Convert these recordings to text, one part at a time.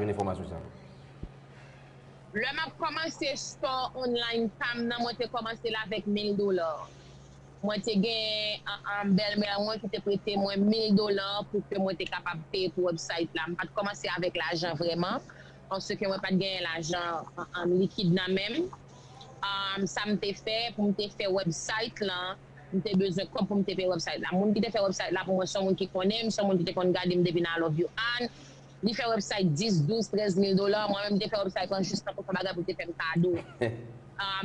jwenn enfòmasyon sa yo? Lè map kòmanse store online pam nan mwen te kòmansel avèk 1000 dolar mwen te gen bèlmèr mwen ki te prete mwen 1000 dolar pou ke mwen te kapab peye pou website la mpat kòmanse avèk lajan vrèman paske mwen pat genyen lajan likid nan menm sam te fè poum te fè website lan mte bezwen kòb poum te peye website la moun ki te fè website la pou mwen son moun ki konnenm son moun ki te konn gadem depi nan I love you Anne Li fè website 10, 12, 13 mil dola, mwen menm m te fè website lan jis tankou son bagay pou l te fè m kado.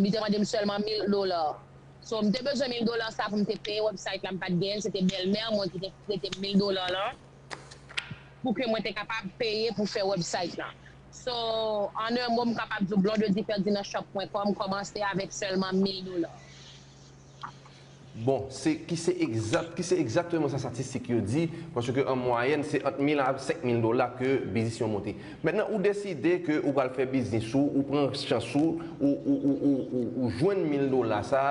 Li te mande m sèlman mil dola. So m te bezwen mil dola sa pou m te peye website la m pat genyen l, se te bèlmè mwen ki te prete m mil dola lan pou ke mwen te kapab peye pou fè website lan. So an un mot m kapab di w Blondedy Ferdinand Shop pwen kòm kòmanse avèk sèlman mil dola. Bon, se ki se egzat, ki se egzakteman sa statistik yo di, paske an mwayèn se ant 1000 a 5000 dola ke biznis yon monte. Mentnan ou deside ke ou pral fè biznis ou, ou pran chans ou, ou ou ou ou ou ou jwenn 1000 dola sa,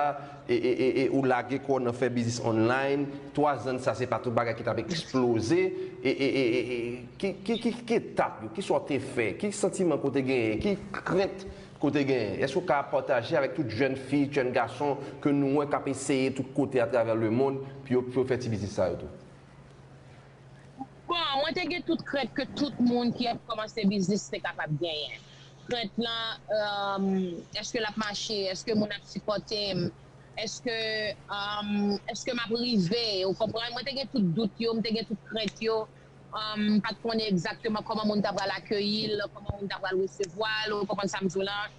e e e e ou lage kò w nan fè biznis online, 3 zan sa se pa tout bagay ki tap eksploze, e e e e e ki ki ki etap yo, ki sa w te fè, ki santiman ke w te genyen, ki krent Kote gen, èske ou ka pataje avèk tout jèn fi, jèn gason ke nou wè kap eseye tout kote atravè le mond pou yo pou yo fè ti biznis sa yo tou? Bon, mwen te gen tout krent ke tout moun ki ap kòmanse biznis te kapab genyen. Krent lan, euh, èske lap mache, èske moun ap sipòte m, èske, euh, èske map rive, ou konprann? Mwen te gen tout dout yo, m te gen tout krent yo, M pa t konnen egzakteman kòman moun ta pral akeyi l, kòman moun ta pral resevwa l, ou konprann sa m di w lan.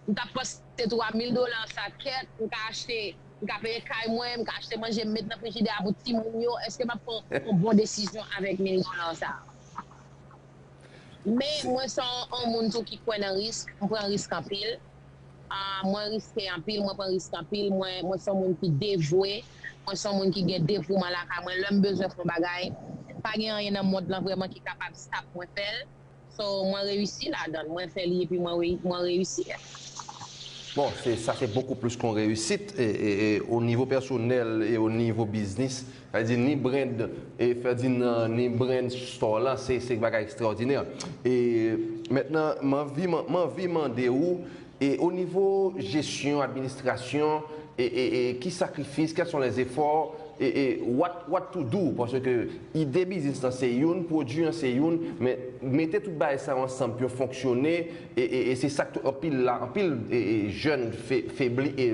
M t ap panse tou a mil dola an sa, kèt, m ka achte, m ka peye kay mwen, m ka achte manje m met nan frijidè a pou timoun yo, èske m ap pran yon bon desizyon avèk mil dola an sa? Men, mwen se yon moun tou ki kwè nan risk, m pran risk anpil. Ahh mwen riske anpil mwen pran risk anpil mwen mwen son moun ki devwe mwen son moun ki gen devouman lakay mwen lèm bezwen fon bagay pa gen anyen nan mond lan vrèman ki kapab stop mwen fèl so mwen reyisi ladanl mwen fè li epi mwen mwen reyisi yeah. Bon se sa se bokou plis kon reyisit e e o nivo pèsonèl e o nivo biznis Sa vle di ni brand Ferdinand ni brand store lan se se bagay extraordinaire. E mentnan m anvi m anvi mande ou e o nivo jesyon administrasyon e e e ki sakrifis quels sont les efforts e e what what to do paske ide biznis lan se youn pwodwi an se youn men mete tout bagay sa yo ansanm pou yo fonksyone E se sak tou anpil la anpil jèn febli e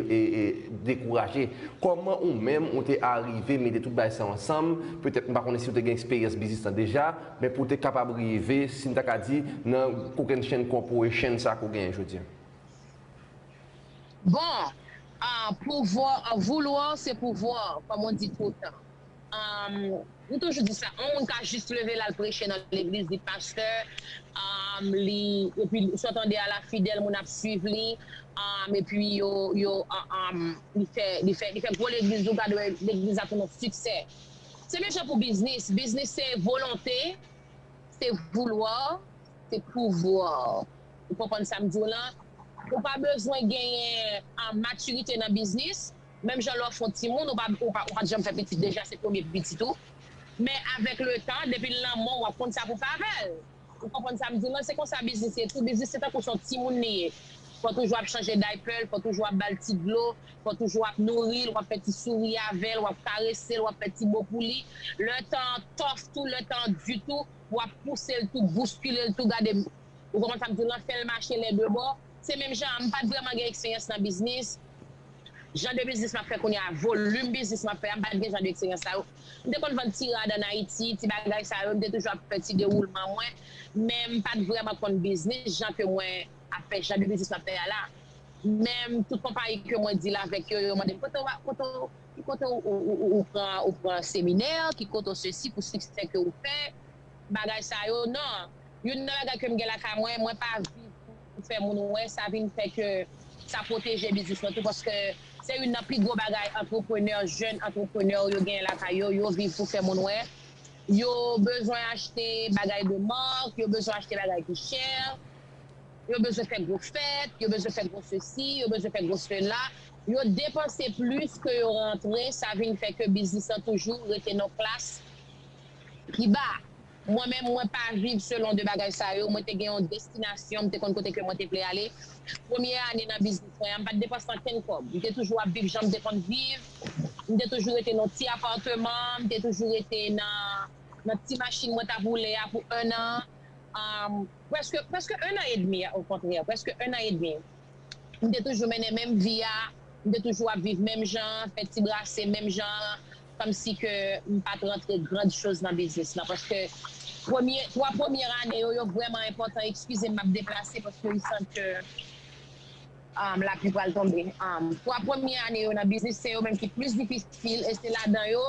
dekouraje. Kòman ou menm ou te arive mete tout bagay sa ansanm, petèt m pa konnen si ou te gen eksperyans biznis lan deja, men pou te kapab rive si m ta ka di nan kokenn chenn corporation sa ke w genyen jodi an? Bon, pouvoir, vouloir c'est pouvoir, kòm on dit tout le temps. M toujou di sa, yon moun ka jis leve lal preche nan legliz li pastè, li epi sot an deyal a fidèl moun ap swiv li, epi yo yo li fè li fè li fè gwo legliz ou gad wè legliz la tounen siksè. Se menm jan pou biznis, biznis se volonte, se vouloir, se pouvoir ou konprann sam diw lan, ou pa bezwen genyen matirite nan biznis, Menm jan lè w fon timoun ou pa ou pat janm fè pitit deja se premye pou pitit ou men avèk le tan depi l nan menw wap konn sa pou fè avèl ou konprann sam di lan se konsa biznis ye tou biznis se tankou son timoun li ye fò toujou ap chanje daypèl fò toujou ap bal ti dlo fò toujou ap nouril wap fè ti souri avèl wap karesel wap fè ti mo pou li lè tan an tòf tou lè tan an di tou wap pousel tou bouskilel tou gade ou konprann sam di lan fèl mache lè de bò. Se menm jan a, m pa t vrèman gen eksperyans nan biznis. Jan de biznis m ap fè kounye a, volim biznis m ap fè a, m pa t gen jan de eksperyans sa yo. M te konn vann ti rad ann Ayiti, ti bagay sa yo, m te toujou ap fè ti dewoulman mwen, men m pa t vrèman konn biznis jan ke mwen ap fè, jan de biznis m ap fè a la. Menm tout konpayi ke mwen dil avèk yo, yo mande m, kote w a, kote w, ki kote ou pran, ou pran seminè, ki kote w sesi pou siksè ke ou fè. bagay sa yo nan youn nan bagay kem gen lakay mwen mwen pa viv pou fè moun wè sa vin fè ke sa pwoteje biznis mwen tou paske se youn nan pi gwo bagay antreprenè jèn antreprenè yo genyen lakay yo yo viv pou fè moun wè yo bezwen achte bagay de mark yo bezwen achte bagay ki chè yo bezwen fè gwo fèt yo bezwen fè gwo sesi yo bezwen fè gwo sela yo depanse plis ke yo rantre sa vin fè ke biznis lan toujou rete nan klas. Iba, Mwen menm mwen pa viv selon 2 bagay sa yo, mwen te gen yon destinasyon, m te konn kote ke mwen te vle ale. Premye ane nan biznis mwen an, m pa t depanse ankenn kòb, m te toujou ap viv jan m te konn viv, m te toujou rete nan yon ti apateman, m te toujou rete nan ti machin mwen t ap woule a pou ennan, prèske ennan edmi okontrè, prèske ennan edmi. M te toujou mennen menm vi a, m te toujou ap viv menm jan an, fè ti brase menm jan an, kòmsi ke m pa t rantre grand choz nan biznis lan. Paske premye, twa premyè ane yo, yo vrèman enpòtan, ekskize m m ap deplase paske m santi ke lapli pral tonbe. Twa premye ane yo nan biznis, se yo menm ki plis difisil e se ladan yo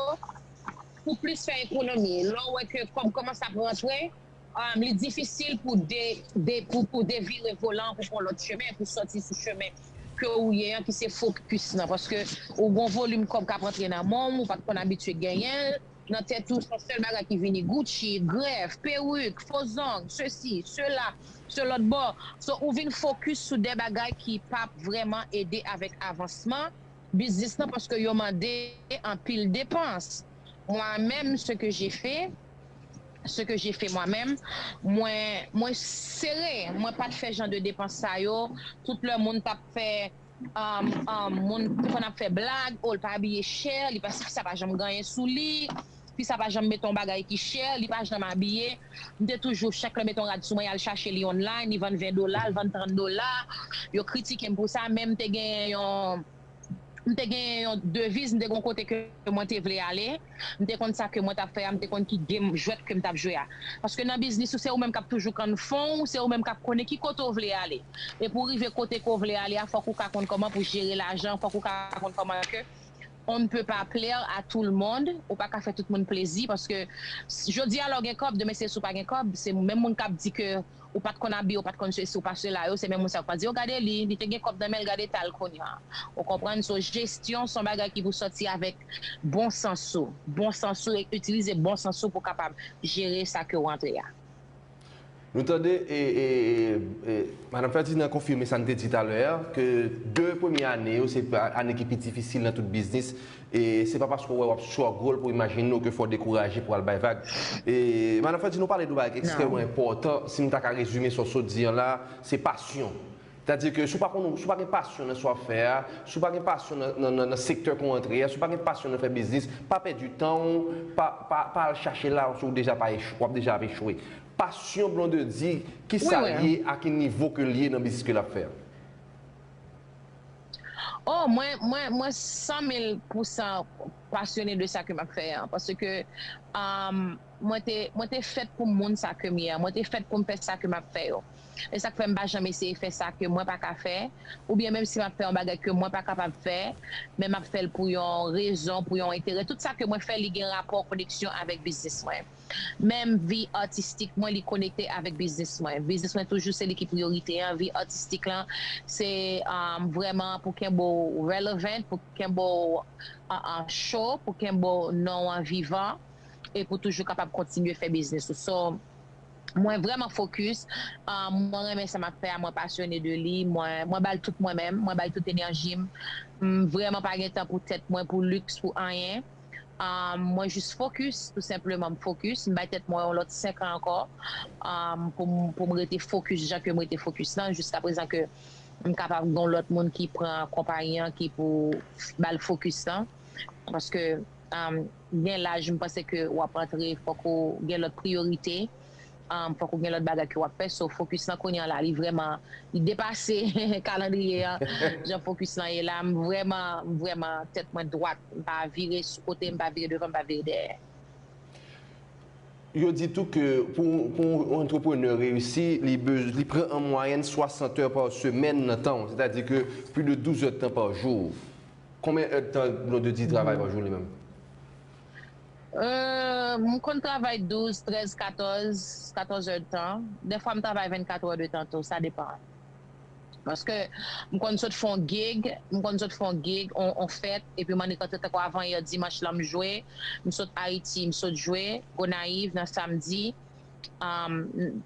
pou plis fè ekonomi. Lè w wè ke kòb kòmanse ap rantre. Li difisil pou ou devire volan an pou pran lòt chemen, pou sòti sou chemen ke ou ye an ki se fokis lan. Paske ou gen yon volim kòb k ap antre nan men w, ou pa t konn abitye genyen l. Nan tèt ou, se yon sèl bagay ki vini, Gucci, grèf, perik, fo zong, sesi, sela, se lòt bò. So, ou vin fokis sou de bagay ki pa p vrèman ede avèk avansman biznis lan paske yo mande anpil depans. Mwa menm, se ke je fe. ce que j'ai fait moi même mwen mwen sere mwen pat fè jan de depans sa yo tout lè moun tap fè um um moun te konn ap fè blag oh li pa abiye chè li pa si fi sa pa janm ganyen sou li fi sa pa janm mete yon bagay ki chè li pa janm abiye m te toujou chak lè mete yon rad sou mwen yal chache li online li vann 20 dola l vann 30 dola yo kritikem pou sa men m te gen yon m te gen yon deviz, m te gen yon kote ke mwen te vle ale, m te konn sa ke mwen t ap fè a, m te konn ki game, jwèt ke m t ap jwe a. Paske nan biznis ou se ou menm k ap toujou kann fon ou, se ou menm k ap konnen ki kote ou vle ale. E pou w rive kote ke w vle ale a, fòk ou ka konn kòman pou jere lajan, fòk ou ka konn kòman ke on ne peut pas plaire à tout le monde, ou pa ka fè tout moun plezi, paske jodi a lè w gen kòb, demen se si w pa gen kòb, se menm moun k ap di ke ou pat konn abiye ou pat konn sesi ou pa sela yo se menm moun sa yo k pral di oh gade li li te gen kòb nan menl gade eta l kounya ou konprann so jesyon son bagay ki pou sòti avèk bon sans ou bon sans ou e itilize bon sans ou pou kapab jere sa ke ou antre a. Nou tande e e e madam Ferdinand konfime sa n te di talè a ke 2 premye ane yo se ane ki pi difisil nan tout biznis E se pa paske w wè w ap struggle pou imajine w ke fè w dekouraje pou w al bay vag. E Madan Ferdinand ou pale de yon bagay ki ekstrèmman enpòtan, si m ta ka rezime sa w sot di an la, se pasyon. Sètadi ke si w pa konn, si w pa gen pasyon nan sa w ap fè a, si w pa gen pasyon nan nan nan sektè ke w antre a, si w pa gen pasyon nan fè biznis, pa pèdi tan w, pa pa pa al chache la si w deja pa echwe, w ap deja ap echwe. Pasyon Blondedy, kisa l ye, a ki nivo ke l ye nan biznis ke l ap fè a? Oh mwen mwen mwen san mil pou san pasyone de sa ke map fè an paske mwen te mwen te fèt pou moun sa kem ye an mwen te fèt poum fè sa ke map fè yo esak fèm pa janm eseye fè sa ke mwen pa ka fè oubyen menm si map fè yon bagay ke mwen pa kapab fè men map fèl pou yon rezon pou yon enterè tout sa ke mwen fè li gen rapò koneksyon avèk biznis mwen. Menm vi atistik mwen li konekte avèk biznis mwen. Biznis mwen toujou se li ki priyorite an. Vi atistik lan se vrèman pou kenbe w relevant, pou kenbe w cho, pou kenbe w non w an vivan e pou toujou kapab kontinye fè biznis ou. So, mwen vrèman fokis, mwen renmen sa m ap fè a, mwen pasyone de li, mwen ba l tout mwen menm, mwen ba l tout enèji m. M vrèman pa gen tan pou tèt mwen, pou liks, pou anyen. Mwen jis fokis, tou senpleman m fokis, m bay tèt mwen yon lòt 5 an ankò pou m rete fokis jan ke m rete fokis lan jiskaprezan ke m kapab gen yon lòt moun ki pran konpayi an ki pou ba l fokis lan paske gen laj m panse ke w ap antre fòk ou gen lòt priyorite. fòk ou gen lòt bagay ke wap fè so focus lan kounye an la li vrèman li depase kalandriye an jan focus lan ye la m vrèman m vrèman tèt mwen dwat m pa vire sou kote m pa vire devan m pa vire dèyè. Yo di tou ke pou yon antreprenè reyisi li pran an mwayèn 60 è pa semèn nan tan w sètadi ke pli de 12 èdtan pa jou konbyen èdtan Blondedy travay pa jou li menm? Humm m konn travay 12, 13, 14, 14 heures de tan, dèfwa m travay 24 heures de tan tou sa depan paske m konn sot fon gig m konn sot fon gig on fèt epi m annik rantre tankou avan yè dimanch lan m jwe m sot Haïti m sot jwe Gonaïves nan samedi humm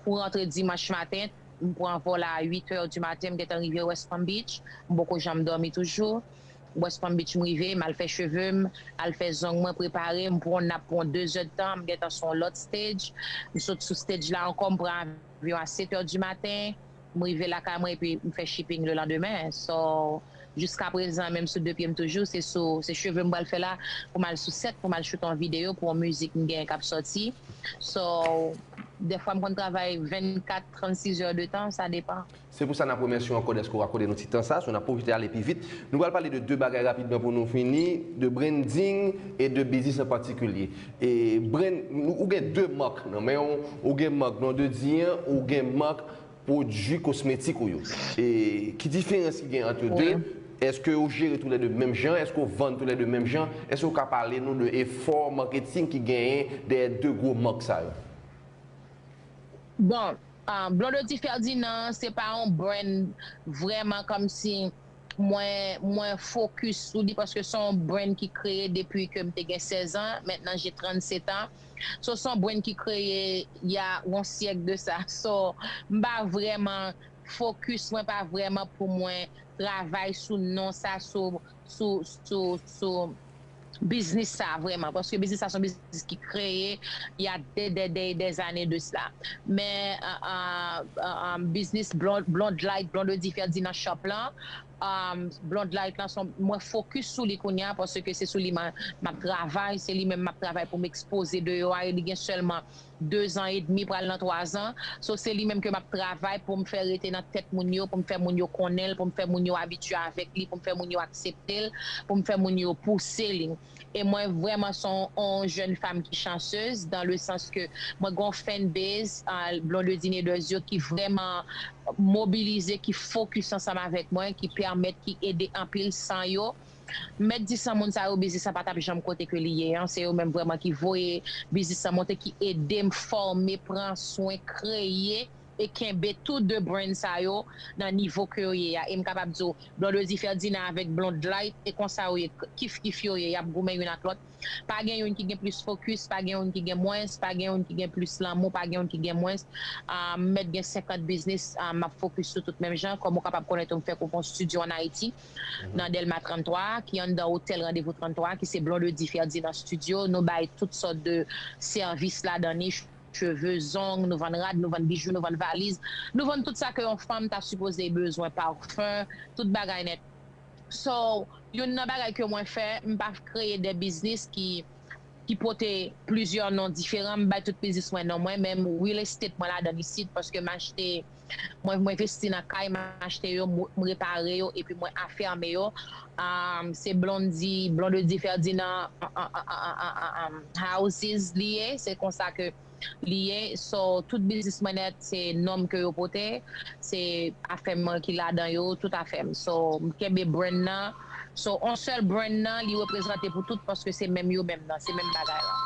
pou rantre dimanch maten m pran vòl a 8 heures du matin m gentan rive West Palm Beach m poko janm dòmi toujou. West Palm Beach m rive, m al fè cheve m, al fè zong mwen, prepare, m pran nap pou yon 2 zè d tan, m gentan sou yon lòt stage, m sot sou stage la ankò, m pran avyon a 7 è di maten, m rive lakay mwen epi m fè shipping lelandemen, so jiskaprezan menm sou 2 pye m toujou, se sou se cheve m pral fè la, pou m al sou set pou m al shoot yon videyo pou yon mizik m gen kap sòti, so dèfwa m konn travay 24, 36 è de tan, sa depan. Se pou sa n ap remèsye w ankò dèske w akòde nou ti tan sa, so n ap pwofite ale pi vit. Nou pral pale de 2 bagay rapidman pou nou fini, de branding e de biznis an patikilye. E brand, ou gen 2 mark nan men w, ou gen mark non de di an, ou gen mark pwodui kosmetik ou yo. E ki diferans ki gen ant yo 2? Wi. Eske ou jere tou le 2 menm jan? Eske ou vann tou le 2 menm jan? Eske ou ka pale nou de efò marketing ki genyen dèyè 2 gwo mark sa yo? Bon, Blondedy Ferdinand se pa yon brand vrèman kòmsi mwen mwen fokis sou li paske son brand ki kreye depi ke m te gen 16 ans maintenant j'ai 37 ans so son brand ki kreye il ya yon syèk de sa so m pa vrèman fokis mwen pa vrèman pou mwen travay sou non sa sou sou sou sou biznis sa vrèman paske biznis sa son biznis ki kreye ya dè dè dè dè zane de sla men biznis blondlight blondedy ferdy nan shop lan blondlight lan son mwen fokis sou li kounya paske se sou li map travay se li menm map travay poum ekspoze deyò a e li gen sèlman 2 zan edmi pral nan 3 zan so se li menm ke map travay poum fè rete nan tèt moun yo poum fè moun yo konnenl poum fè moun yo abitye avèk li poum fè moun yo akseptel poum fè moun yo pouse li e mwen vrèman son on jèn fam ki chansez dan le sans ke mwen gen on fèn base Blondedine Edwards yo ki vrèman mobilize ki fokis ansanm avèk mwen ki pèmèt ki ede anpil san yo M mèt di san moun sa yo biznis la pa tap janm kote ke li ye an, se yo menm vrèman ki voye biznis lan monte ki edem fòme, pran swen, kreye e kenbe tou 2 brand sa yo nan nivo ke yo ye a e m kapab di w Blondedy Ferdinand avèk Blondlyte e konsa yo ye kif kif yo ye yap goumen youn ak lòt pa gen youn ki gen plis fokis pa gen youn ki gen mwens pa gen youn ki gen plis lanmou pa gen youn ki gen mwens m mèt gen 50 biznis map fokis sou tout menm jan kòm ou kapab konnen tou m fè kou pou yon studio an Ayiti. nan Dèlma 33 a ki anndan otèl Randevou 33 a ki se Blondedy Ferdinand Studio nou bay tout sòt de sèvis ladan li cheve, zong, nou vann rad, nou vann bijou, nou vann valiz, nou vann tout sa ke yon fanm ta sipoze bezwen parfum, tout bagay nèt so youn nan bagay ke mwen fè m pa kreye de biznis ki ki pote plizyè non diferan m bay tout biznis mwen non mwen menm real estate mwen ladan isit paske m achte. Mwen mwen vesti nan kay m achte yo m repare yo epi mwen afème yo aahh se blondy blondedy ferdinand houses li ye se konsa ke li ye so tout biznis mwen nèt se nom ke yo pote se afèm mwen ki ladan yo tout afèm so m kenbe brand nan so on sèl brand nan li reprezante pou tout paske se menm yo menm nan se menm bagay lan.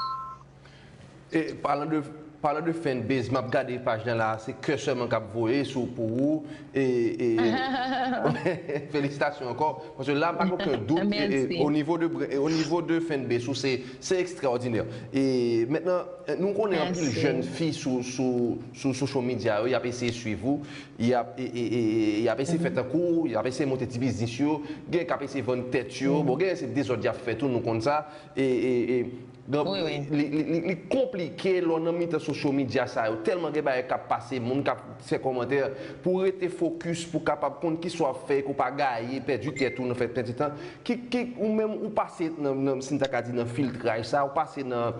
E palan de palan de fan base map gade paj lan la se kè sèlman kap voye sou pou ou e e felisitasyon ankò paske la pa gen oken dout e e o nivo de e o nivo de fan base ou se se ekstraòdinè e mentnan nou konnen anpil jèn fi sou sou sou social media yo yap eseye swiv ou yap e e e yap eseye fè tankou ou yap eseye monte ti biznis yo gen kap eseye vann tèt yo bon gen se dezòd yap fè tou nou konn sa e e e Donk li konplike lè w nan mitan sosyo medya sa yo. Tèlman gen bagay k ap pase, moun k ap fè kòmantè. Pou w rete fokis, pou w kapab konn kisa w ap fè e ke w pa gaye, pèdi tèt ou nan fè pèdi tan. Ou menm ou pase nan, si n ta ka di nan filtraj sa, ou pase nan.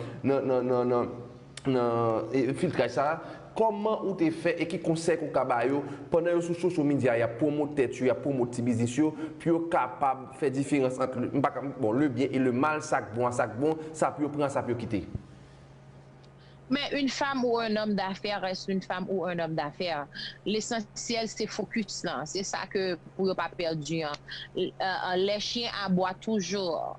nan filtraj sa a, kòman ou te fè e ki konsèy ke w ka ba yo pandan yo sou sosyo midya y ap pwomot tèt yo, y ap pwomot ti biznis yo pou yo kapab fè diferans ant m pa ka bon le byen e le mal sa k bon a sa k bon, sa pou yo pran a sa pou yo kite? Men une femme ou un homme d'affaires reste une femme ou un homme d'affaires lesansyèl se fokis lan se sa ke pou yo pa pèdi an lè chyen abwa toujou.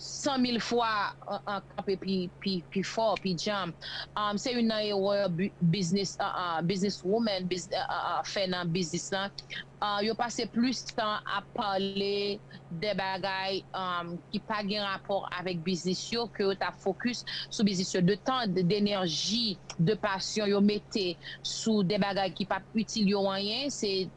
100 mil fwa an kanpe pi fò, pi djanm. Se youn nan erè biznis woman fè nan biznis lan. Yo pase plis tan ap pale de bagay ki pa gen rapò avèk biznis yo ke yo ta fokis sou biznis yo. De tan, denèji, de pasyon yo mete sou de bagay ki pap itil yo anyen.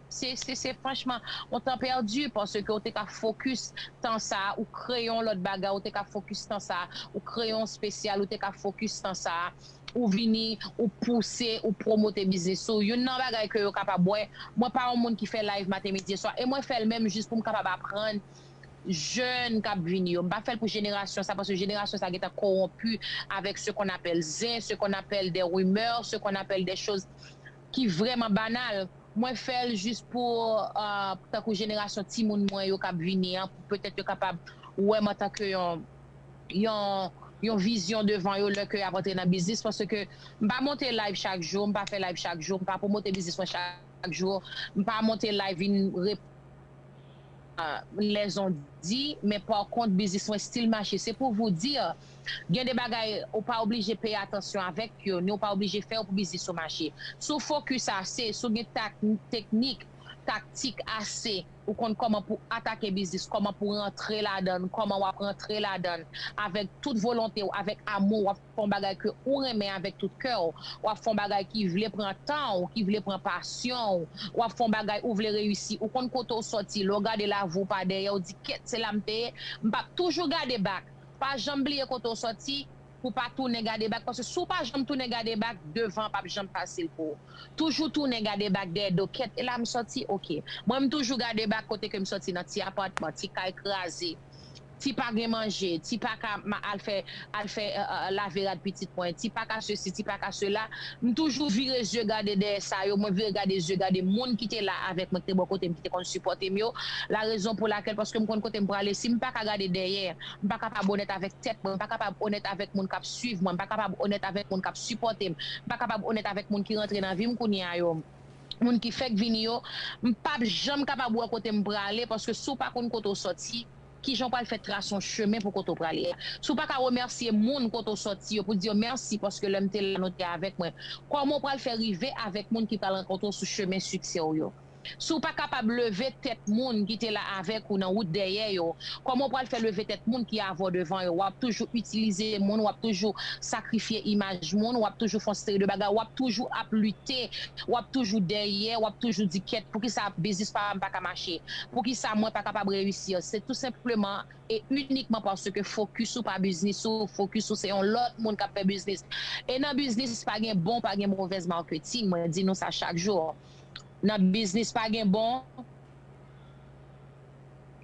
Se se franchman yon tan pèdi paske ou te ka fokis tan sa a ou kreye yon lòt bagay ou te ka fokis tan sa a ou kreye yon spesyal ou te ka fokis tan sa a ou vini ou pouse ou pwomote biznis ou youn nan bagay ke yo kapab wè mwen pa yon moun ki fè live maten midi e swa e mwen fèl menm jis pou m kapab aprann jèn kap vini yo m pa fèl pou jenerasyon sa paske jenerasyon sa gentan kowonpi avèk se konnapèl zen se konnapèl de rimè se konnapèl de choz ki vrèman banal, mwen fè l jis pou tankou jenerasyon timoun mwen yo k ap vini an, pou petèt yo kapab wè m antanke yon yon vizyon devan yo lè ke y ap antre nan biznis paske m pa monte live chak jou, m pa fè live chak jou, m pa pwomote biznis mwen chak jou, m pa monte live vin reponn lèzon di men pakont biznis mwen stil mache se pou vou dir Gen de bagay ou pa oblije peye atansyon avèk yo, ni ou pa oblije fè yo pou biznis ou mache. Si w fokis ase, si w gen teknik, taktik, ase, ou konn kòman pou atake biznis, kòman pou rantre ladan l, kòman w ap rantre ladan l avèk tout volonte w, avèk amou, w ap fè yon bagay ke ou renmen avèk tout kè w, w ap fè yon bagay ki vle pran tan w, ki vle pran pasyon w, w ap fè yon bagay ou vle reyisi, ou konn kote w sòti, lè w gade lavi w pa dèyè, w di kèt se la m te ye, m p ap toujou gade bak. Pa janm bliye kote w sòti pou w pa tounen gade bak paske si w pa janm tounen gade bak devan pap janm fasil pou w toujou tounen gade bak dèyè do kèt e la m sòti ok mwen m toujou gade bak kote ke m sòti nan ti apatman ti kay kraze ti pa gen manje ti pa ka al fè al fè lave rad pitit mwen ti pa ka sesi ti pa ka sela. M toujou vire zye gade dèyè sa yo, mwen vire gade zye gade moun ki te la avèk mwen, ki te bò kote m, ki te konn sipòte m yo, larezon pou lakèl paske m konn kote m prale, si m pa ka gade dèyè, m pa kapab onèt avèk tèt mwen, m pa kapab onèt avèk moun k ap suiv mwen, m pa kapab onèt avèk moun k ap sipòte m, m pa kapab onèt avèk moun ki rantre nan vi m kounye a yo, moun ki fèk vini yo, m p ap janm kapab wè kote m prale paske si w pa konn kote w sòti. Kijan w pral fè trase yon chemen pou kote w prale a? Si w pa ka remèsye moun kote w sòti yo pou di yo mèsi paske lè m te la nou te avèk mwen, kòman w pral fè rive avèk moun ki pral rankontre w sou chemen siksè w yo? Si w pa kapab leve tèt moun ki te la avèk ou nan wout dèyè yo, kòman w pral fè leve tèt moun ki avè w devan yo? W ap toujou itilize moun, w ap toujou sakrifye imaj moun, w ap toujou fè yon seri de bagay, w ap toujou ap lite, w ap toujou dèyè, w ap toujou di kèt poukisa biznis pa m pa ka mache? Poukisa mwen pa kapab reyisir se tou senpleman e inikman paske fokis ou pa biznis ou, fokis ou se yon lòt moun kap fè biznis. E nan biznis pa gen bon pa gen movèz marketing mwen di nou sa chak jou nan biznis pa gen bon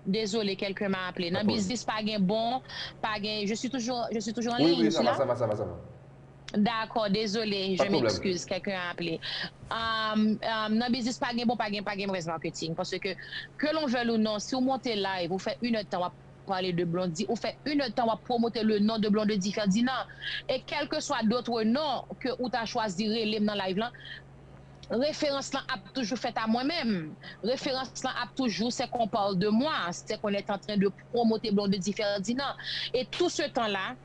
Désolé quelqu'un m'a appelé nan biznis pa gen bon pa gen je suis toujours je suis toujours en ligne je suis là? Dakò dezole Pas de je problème. m'excuse quelqu'un a appelé Ahh nan biznis pa gen bon pa gen pa gen mauvaise marketing parce que que l'on veuille ou non si ou monte live ou fè une heure de temps wap pale de Blondy ou fè une heure de temps wap promote le nom de Blondedy Ferdinand et quelque soit d'autres noms que ou ta chwazi rele'm nan live lan referans lan ap toujou fèt a mwen menm referans lan ap toujou c'est qu'on parle de moi c'est qu'on est en train de promote Blondedy Ferdinand et tout ce temps là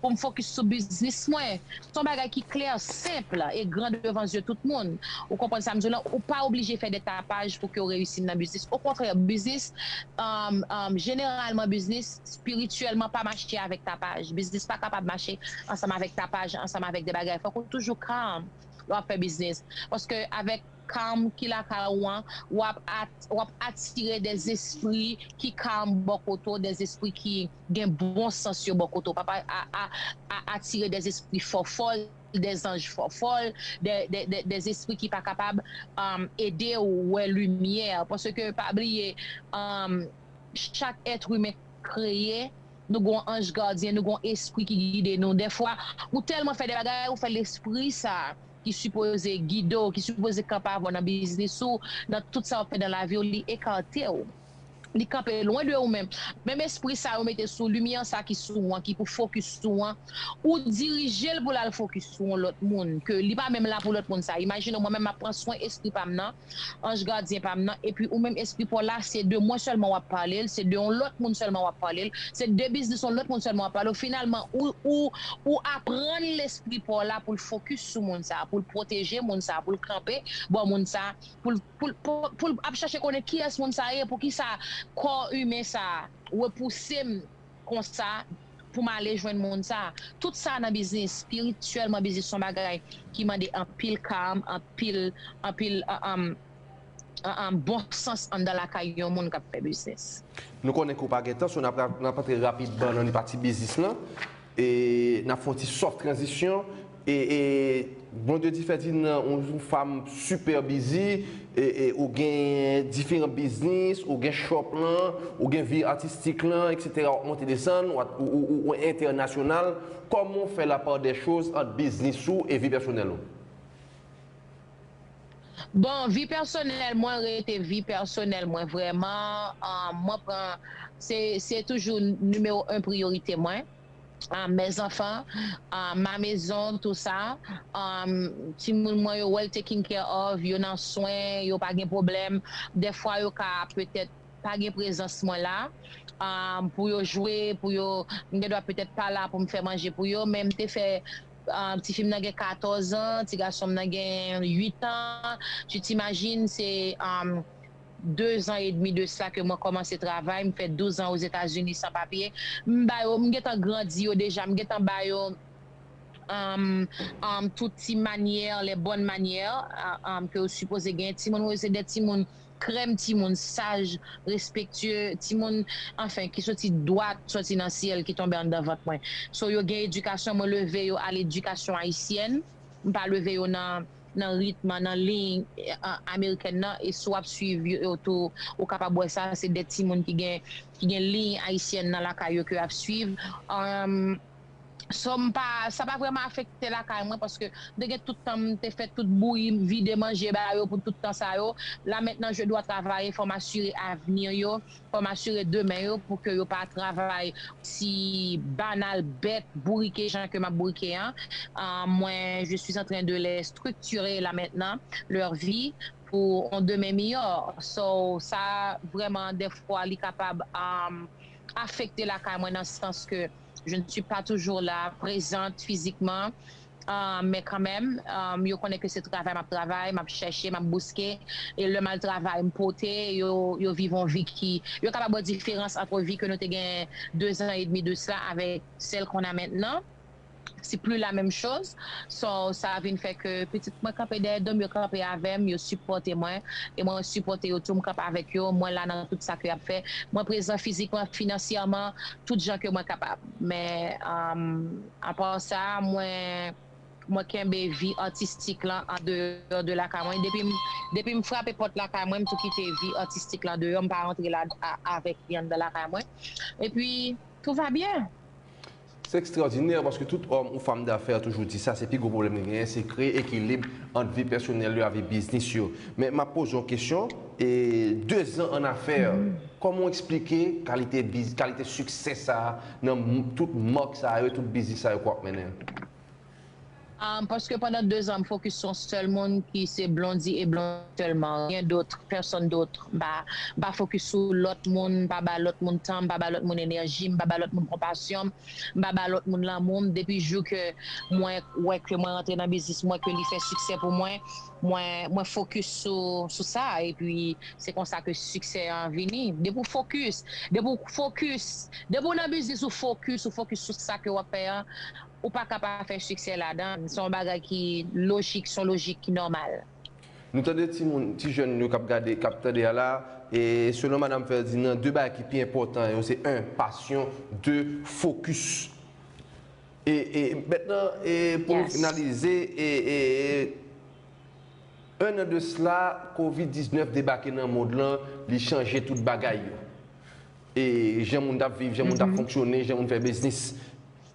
pou m fokis sou biznis mwen. S on bagay ki klè, senp, e gran devan zye tout moun. Ou konprann sa m di w lan? Ou pa oblije fè dè tapaj pou ke w reyisi nan biznis. Okontrè, biznis, jeneralman biznis, spirityèlman pa mache avèk tapaj. Biznis pa kapab mache ansanm avèk tapaj, ansanm avèk dè bagay. Fòk ou toujou calm lè w ap fè biznis. Paske avèk calm ki lakay ou an, w ap atire dè zespri ki calm bò kote w, dè zespri ki. Gen bon sans yo bò kote w. Papa a a atire dè zespri fòfòl, dè zanj fòfòl, dè zespri ki pa kapab ede w wè limyè. Paske pa bliye, chak èt imen kreye, nou gen yon anj gadyen, nou gen yon espri ki gide nou. Dè fwa, ou tèlman fè dè bagay, ou fè lespri sa a ki sipoze gide w, ki sipoze kanpe avè w nan biznis ou, nan tout sa w ap fè nan lavi w, li ekate w. li kanpe lwen de ou men menm espri sa yo mete sou limyè an sa ki sou ou an ki pou fokis sou an ou dirijel pou lal fokis sou yon lòt moun ke li pa menm la pou lòt moun sa imajine mwen menm map pran swen espri pam nan anj gadyen pam nan epi ou menm espri paw la se de mwen sèlman wap palel se de yon lòt moun sèlman wap palel se de biznis yon lòt moun sèlman wap palel finalman ou ou ou aprann lespri paw la poul fokis sou moun sa poul pwoteje moun sa poul kanpe bò moun sa. pou l ap chache konnen kiyès moun sa ye, poukisa kò imen sa repouse m konsa pou m ale jwenn moun sa. Tout sa nan biznis, espirityèlman biznis se yon bagay ki mande anpil kalm, anpil bon sans anndan lakay yon moun k ap fè biznis. Nou konnen ke w pa gen tan, so n ap antre rapidman nan pati biznis lan. E nap fon ti soft transition e e Bondye di fè di nan ou yon fam super busy e e ou gen diferan biznis ou gen shop lan ou gen vi artistik lan etc wap monte desann wap ou entènasyonal kòman ou fè la part des choses ant biznis ou e vi pèsonèl ou? Bon vi pèsonèl mwen rete vi pèsonèl mwen vrèman mwen pran se toujou nimewo 1 priyorite mwen mes enfants ma maison tout sa timoun mwen yo well taking care of yo nan swen yo pa gen pwoblèm dèfwa yo ka petèt pa gen prezans mwen la pou yo jwe pou yo m gen dwa petèt pa la pou m fè manje pou yo men m te fè Ti fi m nan gen 14 an, ti gason m nan gen 8 an. Tu t'imagines se 2 zan edmi de sa ke mwen kòmanse travay, m fè 12 an Ozetazini san papye. M ba yo, m gentan grandi yo deja, m gentan ba yo tout ti manyè, les bonnes manières ke yo sipoze genyen. Timoun m yo se de timoun Krèm timoun saj, respektye, timoun anfen ki soti dwat soti nan syèl ki tonbe anndan vant mwen. So yo gen edikasyon mwen leve yo a ledikasyon ayisyèn, m pa leve yo nan nan ritm an, nan liy amerikèn nan e si w ap suiv yo tou ou kapab wè sa se de timoun ki gen ki gen liy ayisyèn nan lakay yo ke yo ap suiv. Som pa sa pa vrèman afekte lakay mwen paske mte gen tout tan mte fè tout bouyi m vide manje ba yo pou tout tan sa yo la maintenant je dois travailler fòm asire avenir yo fòm asire demen yo pou ke yo pa travay osi banal bèt bourike jan ke map bourike an mwen je suis entren de les structurer la maintenant leur vie pou on demen miyò so sa vrèman dèfwa li kapab afekte lakay mwen nan sans ke. Je ne suis pas toujours là, présente physiquement, mais quand même, yo konnen ke se travay m ap travay, m ap chèche, m ap bouske, e lè m al travay m pote, yo viv yon vi ki, yo kapab wè diferans antre vi ke nou te gen dezan edmi de sela avèk sèl kon a mentnan, se pli la menm choz, so sa vin fè ke pitit mwen kanpe dèyè do m, yo kanpe avè m, yo sipòte mwen, e mwen sipòte yo tou, m kanpe avèk yo, mwen la nan tout sa ke y ap fè, mwen prezan fizikman, finansyèman, tout jan ke mwen kapab. Men apa sa mwen mwen kenbe vi atistik lan an deyò de lakay mwen. Depim depim frape pòt lakay mwen m tou kite vi atistik lan deyò m pa rantre la avèk li anndan lakay mwen. E pi tout va byen. Se ekstraòdinè paske tout òm ou fam dafè toujou di sa se pi gwo pwoblèm li genyen se kreye ekilib ant vi pèsonèl yo a vi biznis yo. Men map poze yon kesyon. E 2 zan an nafè, kòman w eksplike kalite biz, kalite siksè sa a nan tout mark sa yo, tout biznis sa yo ke w ap mennen? Ahm paske pandan 2 zan m fokis sou yon sèl moun ki se Blondy e Blondy sèlman, rien d'autre, personne d'autre, m pa, m pa fokis sou lòt moun, m pa ba lòt moun tan m, m pa ba lòt moun enèji m, m pa ba lòt moun konpasyon m, m pa ba lòt moun lanmou m, depi jou ke mwen wè ke mwen rantre nan biznis mwen ke li fè siksè pou mwen, Mwen mwen fokis sou sou sa epi se konsa ke siksè an vini. Depi w fokis, depi w fokis, depi w nan biznis ou fokis, ou fokis sou sa ke w ap fè an, ou pa ka pa fè siksè ladan l. Se yon bagay ki lojik, se yon lojik ki nòmal. Nou tande ti moun, ti jèn yo k ap gade, k ap tande a la, e selon Madam Ferdinand, 2 bagay ki pi enpòtan yo se 1, pasyon, 2, fokis. E mètnan e pou nou finalize e e e 1 an de sla kovid 19 debake nan mond lan li chanje tout bagay yo e jan moun tap viv jan moun tap fonksyone jan moun fè biznis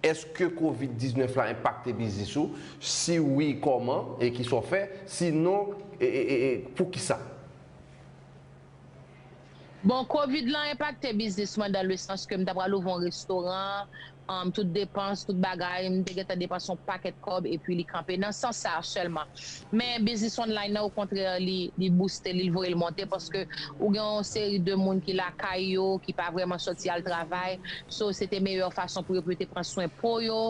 eske kovid 19 la enpakte biznis ou si wi kòman e kisa w fè si non e e e poukisa. Bon covid lan enpakte biznis mwen dan le sans ke m ta pral ouvri yon restoran an tout depans tout bagay m te gentan depanse yon pakèt kòb epi li kanpe nan sans sa sèlman men biznis online nan okontrè li bouste li l voye l monte paske ou gen yon seri de moun ki lakay yo ki pa vrèman sòti al travay so se te meyè fason pou yo pou yo te pran swen po yo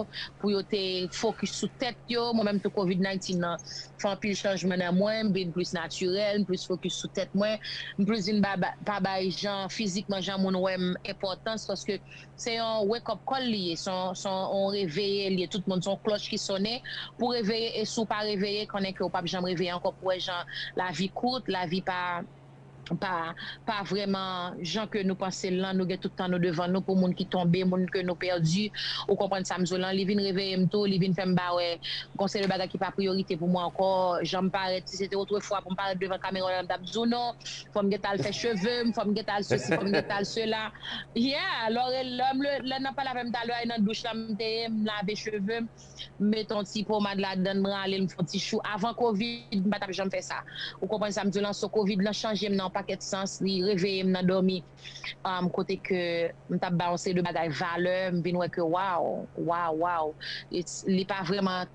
pou yo te fokis sou tèt yo mwen menm tou covid 19 nan fè anpil chanjman nan mwen, m vin plis natirèl, m plis fokis sou tèt mwen, m plis vin pa bay jan fizikman jan moun wè m enpòtans paske se yon wake up call li ye se yon reveye li ye tout moun se yon klòch ki sone pou reveye e si w pa reveye konnen ke w pap janm reveye ankò pou wè jan lavi kout lavi pa pa pa vrèman jan ke nou pansel lan nou gen tout tan nou devan nou pou moun ki tonbe moun ke nou pèdi ou konprann sam diw lan li vin reveyem tou li vin fèm pa wè gon seri bagay ki pa priyorite pou mwen ankò janm parèt si se te otrefwa poum parèt devan kamera lan m tap diw non fòm gen tal fè chevem fòm gen tal sesi fòm gen tal sela yeah lorel lèm lè nan pale avèm talè a e nan douch lan m te ye m lave chevem. m met on ti pomad ladan l m rale l m fè on ti chou avan kovid m pa tap janm fè sa ou konprann sa m di w lan so kovid lan chanje m nan on pakèt sans li reveye m nan dòmi kote ke m tap bay on seri de bagay valè m vin wè ke waw waw waw li pa vrèman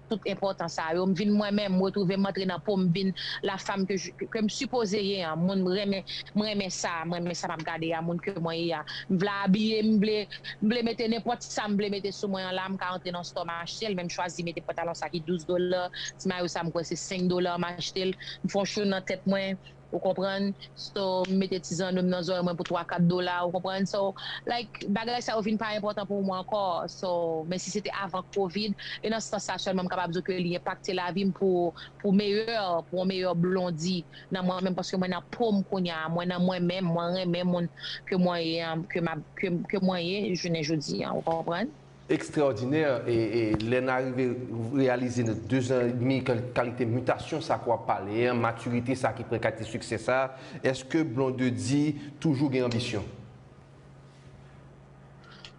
tout enpòtan sa yo m vin mwen menm m retwouve m antre nan po m vin la fam ke m sipoze ye an moun m renmen m renmen sa m renmen sa map gade a moun ke mwen ye a m vle abiye m vle. M vle mete nenpòt sa m vle mete sou mwen an la, m ka antre nan store m achte l, men m chwazi mete pantalon sa ki 12 dola, ti mayo sa m kwè se 5 dola m achte l, m fon chou nan tèt mwen ou konprann, so m mete ti zanno m nan zòrèy mwen pou 3 4 dola ou konprann, so like bagay sa yo vin pa enpòtan pou mwen ankò, so men si se te avan covid e nan sans sa sèlman m kapab di w ke li enpakte lavi m pou meyè pou yon meyè blondi. nan mwen menm paske mwen nan pom kounya mwen nan mwen menm mwen renmen moun ke mwen ye an ke map ke mwen ye jounen jodi an ou konprann. Ekstraòdinè e e lè na rive reyalize nan 2 zan e demi kan kalite mitasyon sa ke wap pale an matirite sa ki pran kalite siksè sa eske Blondedy toujou gen anbisyon?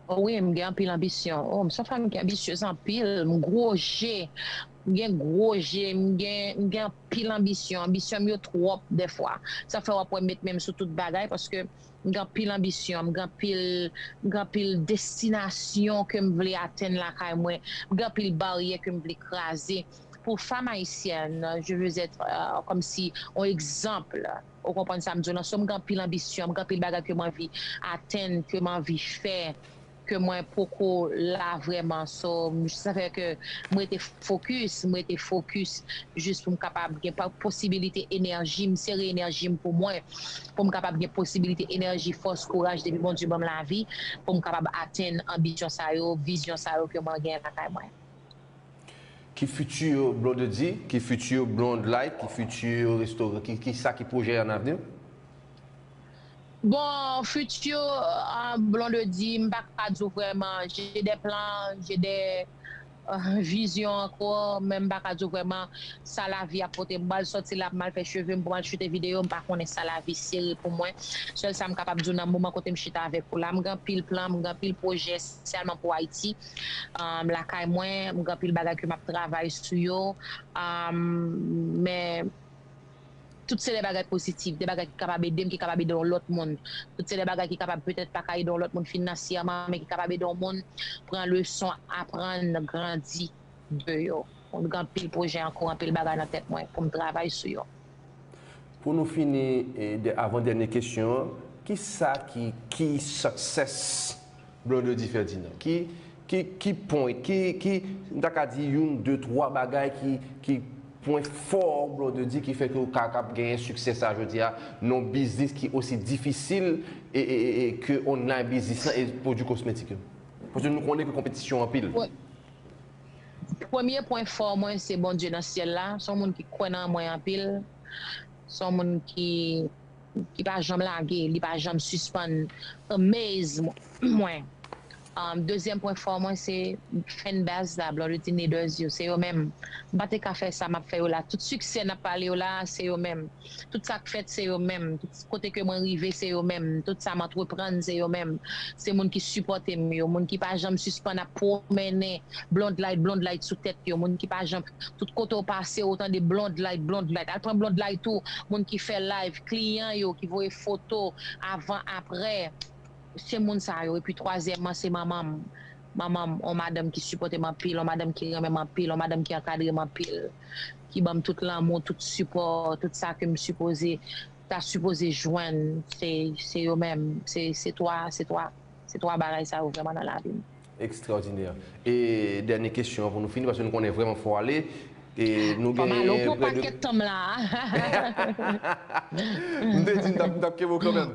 O wi m gen anpil anbisyon o m son fanm ki anbisyez anpil m gwo je. M gen gwo je, m gen m gen anpil anbisyon, anbisyon m yo twòp dèfwa, sa fè w ap wè m met men m sou tout bagay paske m gen anpil anbisyon, m gen anpil m gen anpil destinasyon ke m vle atenn lakay mwen, m gen anpil baryè ke m vle kraze pou fam ayisyèn, je veux être kòmsi on exemple ou konprann sa m di w lan, so m gen anpil anbisyon, m gen anpil bagay ke m anvi atenn, ke m anvi fè. ke mwen poko la vrèman so sa fè ke m rete fokis m rete fokis jis pou m kapab gen posibilite enèji m sere enèji m pou mwen pou m kapab gen posibilite enèji fòs kouraj depi Bondye ban m lavi pou m kapab atenn anbisyon sa yo vizyon sa yo ke mwen gen lakay mwen. Ki fiti Blondedy? Ki fiti Blondlight? Ki fiti Resto? Ki sa ki pwojè an avni w? Bon futur blondedy m pa ka di w vrèman j'ai des plans j'ai des visions encore men m pa ka di w vrèman sa lavi ap pote m pral sòti la pou m al fè cheve m pou m al shute video m pa konnen sa lavi sere pou mwen sèl sa m kapab di w nan moman kote m chita avèk ou la m gen anpil plan m gen anpil pwojè spesyaman pou Ayiti lakay mwen m gen anpil bagay ke m ap travay sou yo men. Tout se de bagay positif, de bagay ki kapab ede m, ki kapab ede yon lòt moun. Tout se de bagay ki kapab petèt pa ka ede yon lòt moun finansyèman, men ki kapab ede yon moun pran leson, aprann, grandi de yo. M gen anpil pwojè an kou, anpil bagay nan tèt mwen pou m travay sou yo. Pou nou fini, avan dènye kesyon an, ki sa ki key success Blondedy Ferdinand, ki, ki, ki pwen, ki, ki, m ta ka di youn, de, twa bagay ki, ki pwen fò w Blondedy ki fè ke w ka kab genyen siksè sa jodi a nan yon biznis ki osi difisil e, e, e, e ke online biznis lan e pwodui kosmetik yo? Paske nou konnen ke konpetisyon anpil. Premye pwen fò mwen se Bondye nan syèl la, s on moun ki kwè nan mwen anpil, s on moun ki. Li pa janm lage, li pa janm sispann amaze mwen. Dezyèm pwen fò mwen se fan base la, Blondedy Niders yo, se yo menm. M pa te ka fè sa map fè yo la, tout siksè nap pale yo la a se yo menm, tout sak fèt se yo menm, tout kote ke mwen rive se yo menm, tout sa m antreprann se yo menm, se moun ki sipòte m yo, moun ki pa janm sispann ap pwomennen blondlight blondlight sou tèt yo, moun ki pa janm. tout kote ou pase ou tande blondlight blondlight al pran blondlight tou moun ki fè live kliyan yo ki voye foto avan aprè se moun sa yo epi twazyèman se manmanm manmanm on madanm ki sipòtem anpil on madanm ki renmenm anpil on madanm ki ankadrem anpil ki banm tout lanmou tout sipò tout sa kem sipoze ta sipoze jwenn se se yo menm se se twa se twa se twa bagay sa yo vrèman nan lavim. Ekstraòdinè. E dènye kesyon an pou nou fini paske nou konnen vrèman fò ale. E nou gen prè de. Fò m ale w pran pakèt tan m la a. M te di m t ap kenbe w kanmenm.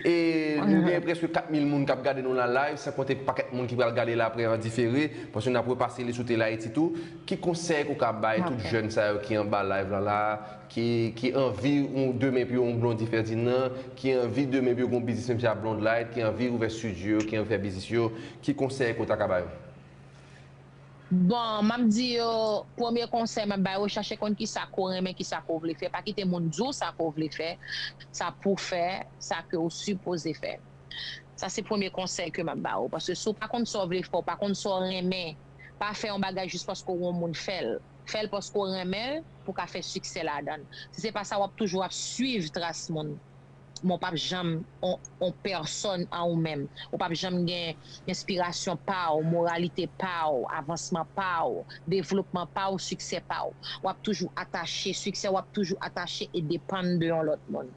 E nou gen prèske 4000 moun k ap gade nou la live san konte pakèt moun ki pral gade l aprè an difere paske n ap repase li sou Telayiti tou. Ki konsèy ou ka bay tout jèn sa yo ki anba live lan la a ki anvi yon demen pou yon Blondy Ferdinand, ki anvi demen pou yo gen yon biznis menm jan ak Blondlight, ki anvi ouvè studio yo, ki anvi fè biznis yo, ki konsèy ou ta ka ba yo? Bon, m ap di yo, premye konsèy m ap ba yo, chache konn ki sa ke w renmen, ki sa ke w vle fè. Pa kite moun di w sa ke w vle fè, sa pou w fè, sa ke w sipoze fè. Sa se premye konsèy ke m ap ba ou. Paske si w pa konn sa w vle fè, w pa konn sa w renmen, pa fè yon bagay jis paske w wè yon moun fè l. fèl paske w renmenl pou ka fè siksè ladann si se pa sa wap toujou ap swiv tras moun men w pap janm on pèsòn an ou menm ou pap janm gen enspirasyon pa w moralite pa w avansman pa w devlopman pa w siksè pa w wap toujou atache siksè wap toujou atache e depann de yon lòt moun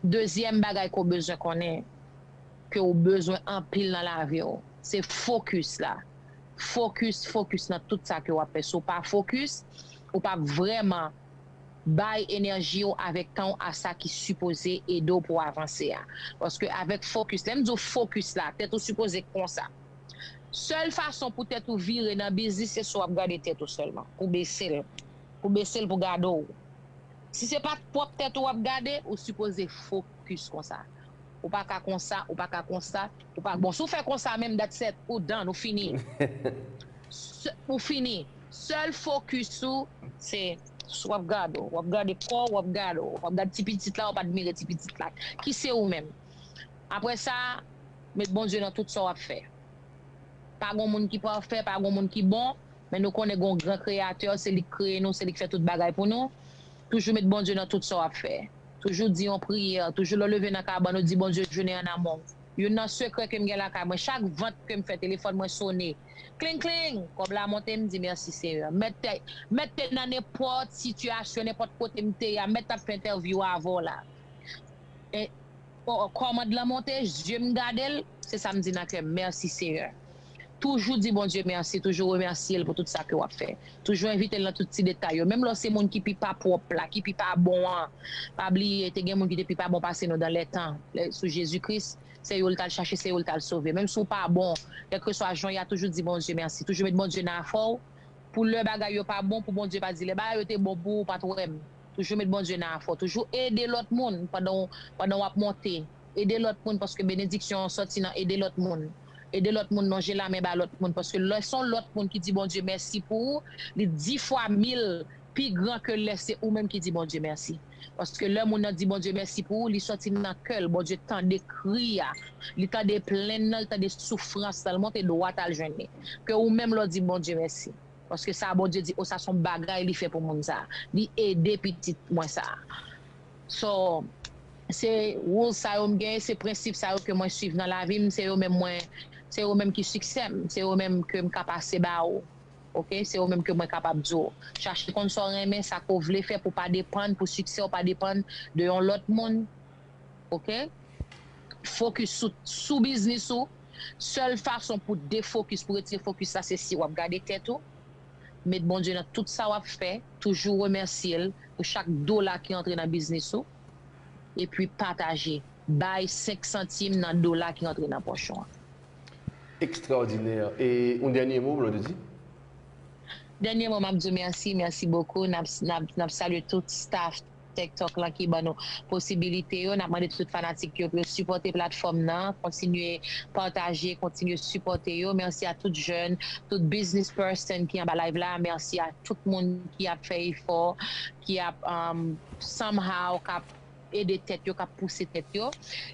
dezyèm bagay ke w bezwen konnen ke w bezwen anpil nan lavi w se fokis la. fokis fokis nan tout sa ke wap fè si w pa fokis ou pap vrèman bay enèji w avèk tan w a sa ki sipoze ede w pou w avanse a paske avèk fokis lè m di w fokis la tèt ou sipoze konsa sèl fason pou tèt ou vire nan biznis se si wap gade tèt ou sèlman pou bese l pou bese l pou gade w si se pa pwòp tèt ou wap gade ou sipoze fokis konsa ou pa ka konsa ou pa ka konsa. Ou pa k bon si w fè konsa menm dat set ou dan ou fini ou fini sèl fokis ou se sou wap gad ou wap gade kò w wap gad ou wap gad ti pitit la wap admire ti pitit la ki se ou menm aprè sa met Bondye nan tout sa wap fè pa gon moun ki pafè pa gon moun ki bon men nou konnen gon gran kreyatè se li k kreye nou se li k fè tout bagay pou nou toujou met Bondye nan tout sa wap fè. Toujou di yon priyè, toujou lè w leve nan kabann ou di Bondye jounen an amò. Youn nan sekrè ke m gen lakay mwen, chak vant ke m fè telefòn mwen sone, kling kling! Kòb la monte m di mèsi Senyè. Mèt te, mèt te nan nenpòt sitiyasyon, nenpòt kote m te ye a, mèt t ap fè entèvyou avè w la. E, o, o, kòmand lan monte, zye m gade l. Se sa m di nan kèm merci Seigneur. Toujou di Bondye mèsi, toujou remèsye l pou tout sa ke wap fè. Toujou envite l nan tout ti detay yo. Menm lè w se moun ki pi pa pwòp la, ki pi pa bon an. Pa bliye te gen moun ki te pi pa bon pase nou dan lè tan, lè sou Jezi Kris, se yo l tal chache, se yo l tal sove. Menm si w pa bon, kèlkeswa jan w ye a toujou di Bondye mèsi. Toujou met Bondye nan afè w pou lè bagay yo pa bon, pou Bondye pa di lè bagay yo te bon pou ou, ou pat wè m. Toujou met Bondye nan afè w. Toujou ede lòt moun pandan w, pandan wap monte. Ede lòt moun paske benediksyon an sòti nan ede lòt moun. Ede lòt moun lonje lamen ba lòt moun paske lè son lòt moun ki di Bondye mèsi pou ou li di fwa mil pi gran ke lè se ou menm ki di Bondye mèsi paske lè moun nan di Bondye mèsi pou ou li sòti nan kèl Bondye tande kri a li tande plenn nan li tande soufrans lan li monte dwat al jwenn li ke ou menm lè w di Bondye mèsi paske sa Bondye di o sa son bagay li fè pou moun sa li ede pitit mwen sa. So, se rules sa yo m gen, se prensip sa yo ke mwen swiv nan lavi m, se yo menm mwen, se yo menm ki siksè m, se yo menm ke m ka pase ba ou, ok, se yo menm ke mwen kapab di w, chache konn sa w renmen, sa ke w vle fè pou w pa depann, pou siksè w pa depann de yon lòt moun, ok, fokis sou, sou biznis ou, sèl fason pou defokis, pou retire fokis la se si w ap gade tèt ou. Met Bondye nan tout sa wap fè, toujou remèsye l pou chak dola ki antre nan biznis ou epi pataje, bay 5 santim nan dola ki antre nan pòch ou. Ekstraòdinè! E yon dènye mo Blondedy? Dènye mo map diw mèsi, mèsi bokou, nap salye tout staff. Tektok lan ki ban nou posibilite yo nap mande tout fanatik yo pou yo sipòte platfòm nan kontinye pataje kontinye sipòte yo merci a tout jèn tout business person ki anba live la merci a tout moun ki ap fè efò ki ap somehow kap ede tèt yo kap pouse tèt yo.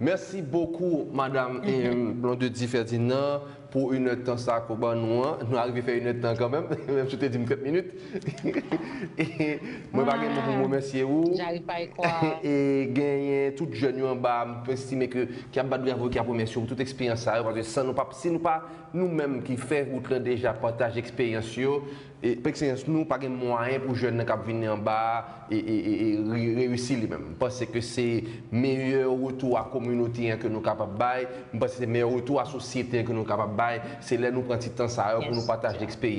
Merci beaucoup madame Blondedy Ferdinand pou une heure tan sa ke w ban nou an. Nou arive fè une heure tan kanmenm, menm si w te di m 30 minit. Mwen pa gen mo pou m remèsye ou. E genyen tout jèn yo anba a m estime ke ki ap bat bravo, ki ap remèsye w pou tout eksperyans sa yo paske san nou pa, si nou pa nou menm ki fè wout lan deja pataje eksperyans yo. Pkseyans nou pa gen mwayen pou jèn nan kap vini anba a reyisi li menm. M panse ke se meyè retou a kominote an ke nou kapab bay, m panse se meyè retou a sosyete an ke nou kapab bay, se lè nou pran ti tan sa yo pou nou pataje eksperyans.